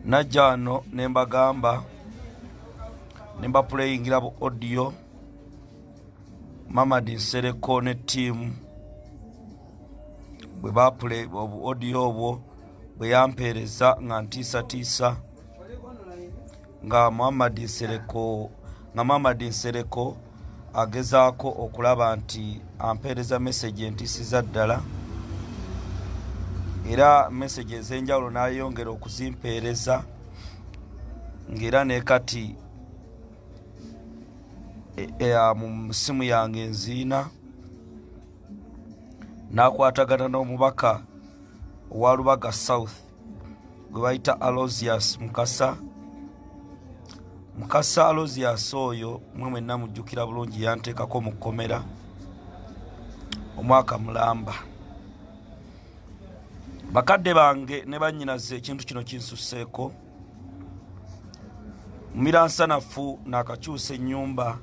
najja wano ne mbagamba ne mbapuleyingira bu odiyo mamadi nsereko ne tiimu bwe bapule obu odiyo obwo bwe yampeereza nga ntiisatiisa nga muhammad nsereko nga muhammad nsereko agezaako okulaba nti ampeereza mesagi entisiza ddala era mesagi ez'enjawulo n'ayongera okuzimpeereza ng'era ne kati e, e, mu simu yange enziina n'akwatagana n'omubaka owa lubaga south gwe bayita alosius mukasa mukasa alosius oyo mwe mwenna mujjukira bulungi yanteekako mu kkomera omwaka mulamba bakadde bange ne bannyinaze ekintu kino kinsuseeko mumiransanafu naakakyusa ennyumba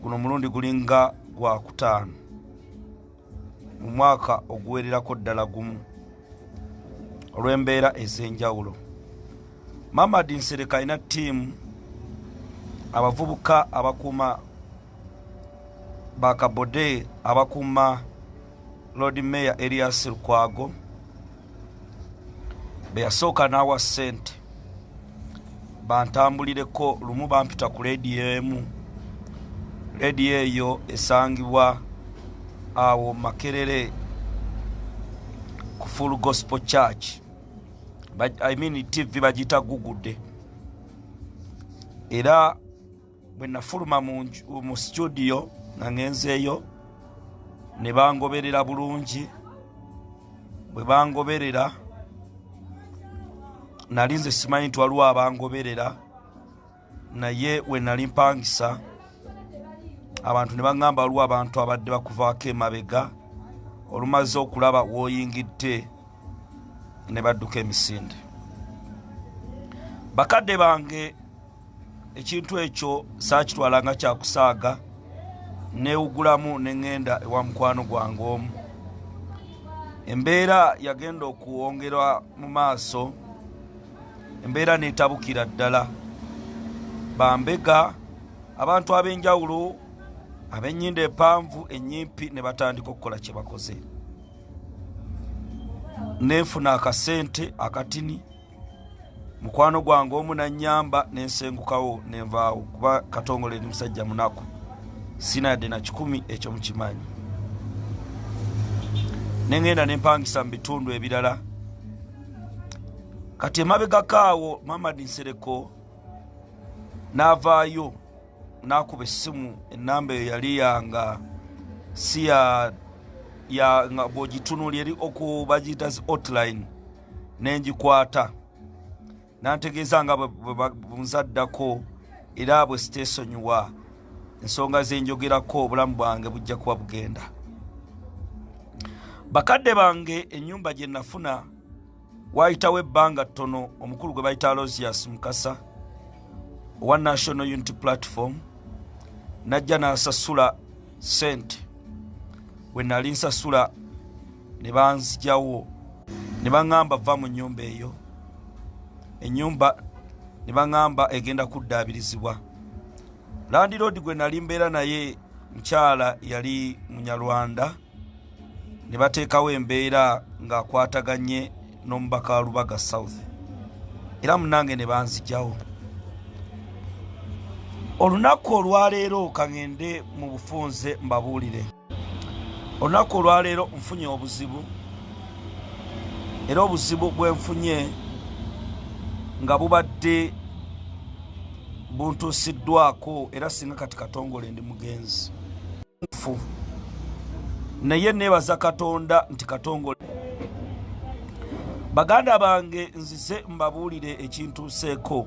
guno mulundi gulinga gwakutaano mu mwaka oguwererako ddala gumu olw'embeera ez'enjawulo mamad nsereka alina ttiimu abavubuka abakuuma bakabode abakuuma lord mayor elias lukwago beyasooka n'awa ssente bantambulireko lumu bampita ku leediyo emu leediyo eyo esangibwa awo makerere ku full gospel church i mean tv bagiyita gugude era bwe nafuluma mu situdiyo nga ngenzeeyo ne bangoberera bulungi bwe bangoberera nali nze simanyi nti waliwo abangoberera naye we nali mpangisa abantu ne baŋŋamba waliwo abantu abadde bakuvaako emabega olumaze okulaba woyingidde ne badduka emisinde bakadde bange ekintu ekyo saakitwala nga kyakusaaga neewugulamu ne ŋŋenda ewa mukwano gwange omu embeera yagenda okuwongera mu maaso embeera neetabukira ddala bambega abantu ab'enjawulo ab'ennyinda empanvu ennyimpi ne batandika okukola kye bakoze neenfuna akasente akatini mukwano gwange omu nanyamba nensengukawo nenvaawo kuba katongole eri musajja munaku sina yadde na kikumi ekyo mukimanyi nengenda nempangisa mu bitundu ebirala kati emabegakaawo mamadi nsereko navaayo n'akuba essimu ennamba eyo yali yanga si ya ya nga bw'ogitunuli eri oku bagiyita zi hotline ne ngikwata nantegeeza nga bwebunzaddako era bwe siteesonyiwa ensonga ze njogerako obulamu bwange bujja kuba bugenda bakadde bange ennyumba gye nafuna waayitawo ebbanga ttono omukulu gwe bayita alosias mukasa owa national unity platform najja n'asasula sente we nali nsasula ne banzijawo ne baŋŋamba va mu nnyumba eyo ennyumba ne baŋŋamba egenda kuddaabirizibwa landiroodi gwe nali mbeera naye mukyala yali munyarwanda ne bateekawo embeera ng'akwataganye n'omubaka wa lubaga south era munange ne banzijawo olunaku olwaleero kaŋende mu bufunze mbabuulire olunaku olwaleero nfunye obuzibu era obuzibu bwenfunye nga bubadde buntuusiddwako era singa kati katongole ndi mugenzi mufu naye nebaza katonda nti katongole baganda bange nzize mbabuulire ekintuuseeko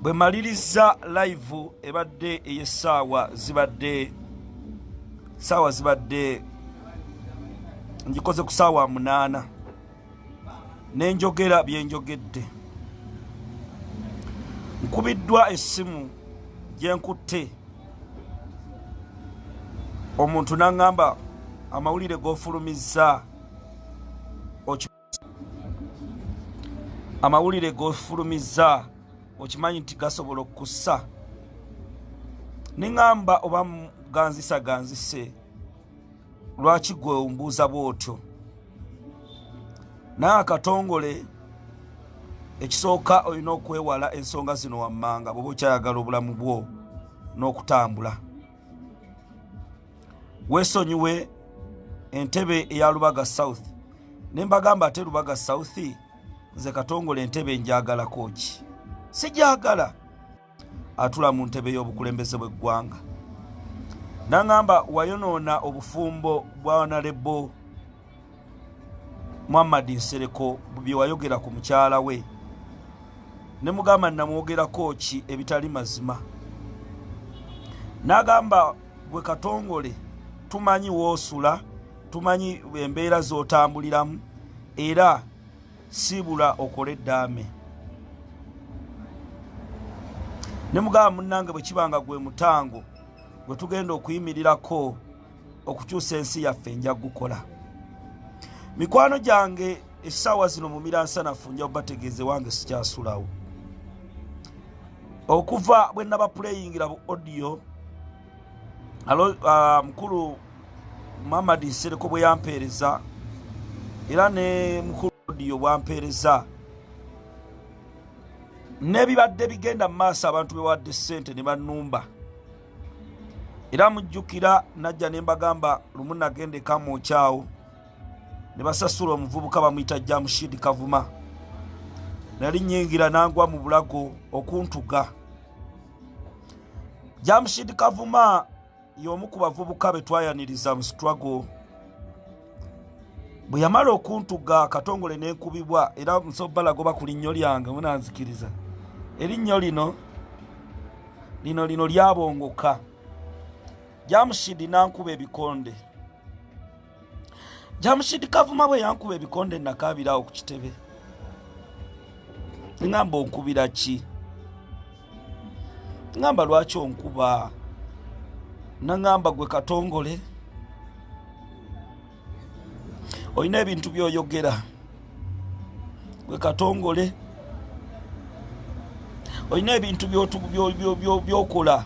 bwe maliriza live ebadde eyesaawa zibadde saawa zibadde ngikoze ku saawa munaana nenjogera byenjogedde nkubiddwa essimu gyenkutte omuntu naŋŋamba amawulire gofulumizza amawulire gofulumizza okimanyi nti gasobola okukussa neŋŋamba oba ganzisa ganzise lwaki gwe ombuuza bwotyo naye akatongole ekisooka olina okwewala ensonga zino wammanga bwoba okyayagala obulamu bwo n'okutambula wesonyiwe entebe eya lubaga south ne mbagamba ate lubaga south nze katongole entebe njagalako ki sijagala atula mu ntebe y'obukulembeze bw'eggwanga nangamba wayonoona obufumbo bwa nalebo muhammad nsereko bye wayogera ku mukyala we ne mugamba namwogerako ki ebitali mazima nagamba gwe katongole tumanyi woosula tumanyi embeera z'otambuliramu era siibula okole eddaame ne mugamba munnange bwe kiba nga gwe mutango gwe tugenda okuyimirirako okukyusa ensi yaffe nja kugukola mikwano gyange essaawa zino mu miransanafu nja kubategeeze wange sikyasulawo okuva bwe nabapuleyingira bu odiyo alo uh, mukulu muhammad nsereko bwe yampeereza era ne mukulu odiyo bwampeereza n'ebibadde bigenda mu maaso abantu bewadde ssente ne bannumba era mujjukira najja ne mbagamba lumu nagenda ekamwokyawo ne basasula omuvubuka bamuyita jamushidi kavuma nali nyingira nangwa mu bulago okuntuga jamshid kavuma y'omu ku bavubuka be twayaniriza mu struggle bwe yamala okuntuga akatongole n'enkubibwa era nsobalagoba ku linnyo lyange munanzikiriza erinnyo lino lino lino lyabongoka jamushidi nankuba ebikonde jamushidi kavuma bwe yankuba ebikonde nakaabirawo ku kitebe ngamba onkubira ki ngamba lwaki onkuba nangamba gwe katongole olina ebintu byoyogera gwe katongole olina ebintu byokola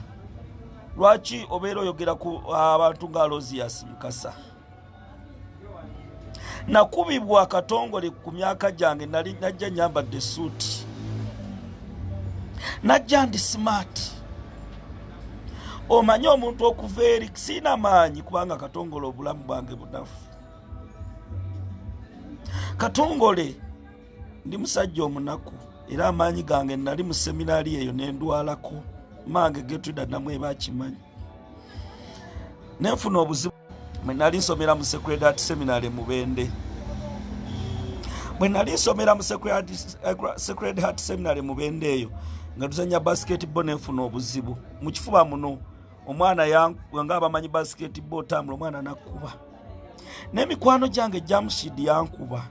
lwaki obeera oyogera ku abantu nga alosias mukasa nakubibwa akatongole ku myaka gyange nali najja nyambadde suuti najja ndi simaati omanye omuntu okuva eri siina maanyi kubanga katongole obulamu bwange bunafu katongole ndi musajja omunaku era amaanyi gange nali mu seminaali eyo ne ndwalako maange getwida namu eba akimanyi nenfuna obuzibu mwe nali nsomera mu secredat seminary mubende bwe nali nsomera mu secret heart seminary mubende eyo nga tuzanya basketball nenfuna obuzibu mu kifuba muno omwana nga abamanyi basketball otambula omwana nakuba n'emikwano gyange jamushid yankuba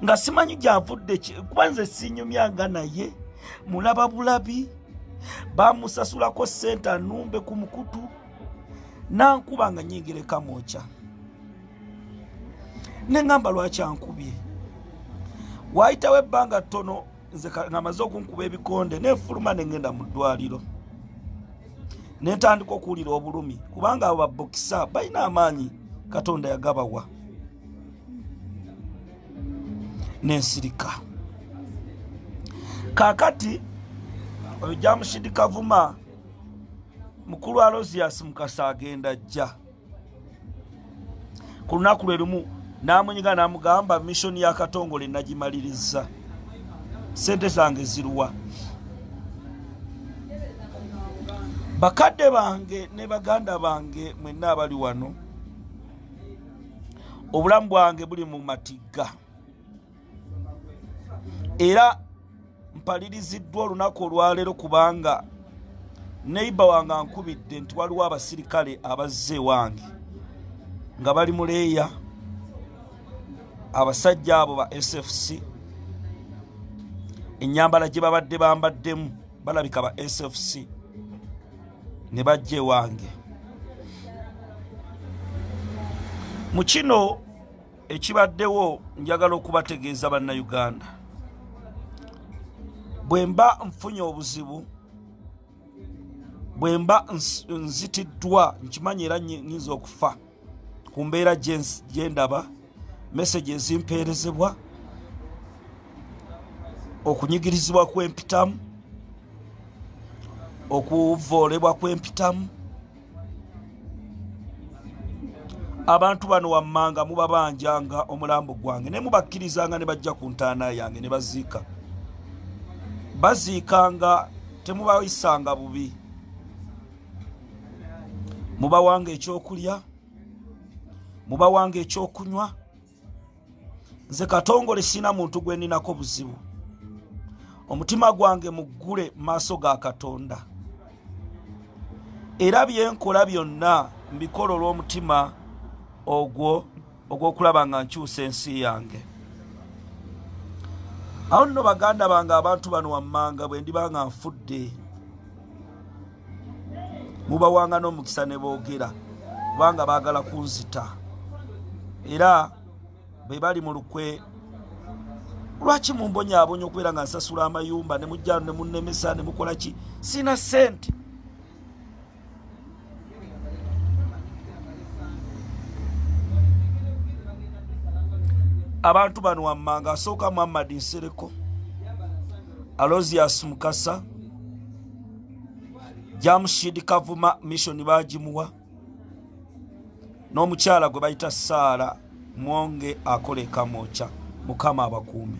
nga simanyi gyavudde kuba nze sinyumyanga naye mulaba bulabi bamusasulako sente anumbe ku mukutu nankuba nga nyingereka mukya neŋamba lwaki ankubye waayitawo ebbanga ttono nze ngamaze okunkuba ebikonde nefuluma nengenda mu ddwaliro netandika okuwulira obulumi kubanga abo babokisa balina amaanyi katonda yagabawa nensirika kakati oyo jamushidi kavuma mukulu alosias mukasa agenda jja ku lunaku lwe lumu n'amunyiga n'amugamba missoni ya katongole nagimaliriza sente zange ziruwa bakadde bange ne baganda bange mwenna abali wano obulamu bwange buli mu matigga era mpaliriziddwa olunaku olwaleero kubanga neiba wange ankubidde nti waliwo abasirikale abazze ewange nga bali muleeya abasajja abo ba sfc enyambala gye babadde bambaddemu balabika ba sfc ne bajja ewange mu kino ekibaddewo njagala okubategeeza bannayuganda bwe mba nfunye obuzibu bwe mba nzitiddwa nkimanyi era nyinza okufa ku mbeera gye ndaba mesagi ezimpeerezebwa okunyigirizibwa kwempitamu okuvoolebwa kwempitamu abantu bano wammanga mubabanjanga omulambo gwange naye mubakkirizanga ne bajja ku ntaana yange ne baziika baziikanga temubayisanga bubi mubawanga ekyokulya mubawanga ekyokunywa nze katongole sina muntu gwe ninako buzibu omutima gwange muggule maaso ga katonda era byenkola byonna mbikola olw'omutima ogwo ogw'okulaba nga nkyusa ensi yange awo nno baganda bange abantu bano wammanga bwe ndiba nga nfudde mubawanga n'omukisa ne boogera kubanga baagala kunzita era be bali mu lukwe lwaki mumbonyaabonya okubeera nga nsasula amayumba ne mujjano ne munnemesa ne mukola ki sina sente abantu bano wammanga asooka muhammadi nsereko alosias mukasa jamushid kavuma mission bagimuwa n'omukyala gwe bayita saara mwonge akola ekamwokya mukama abakuumi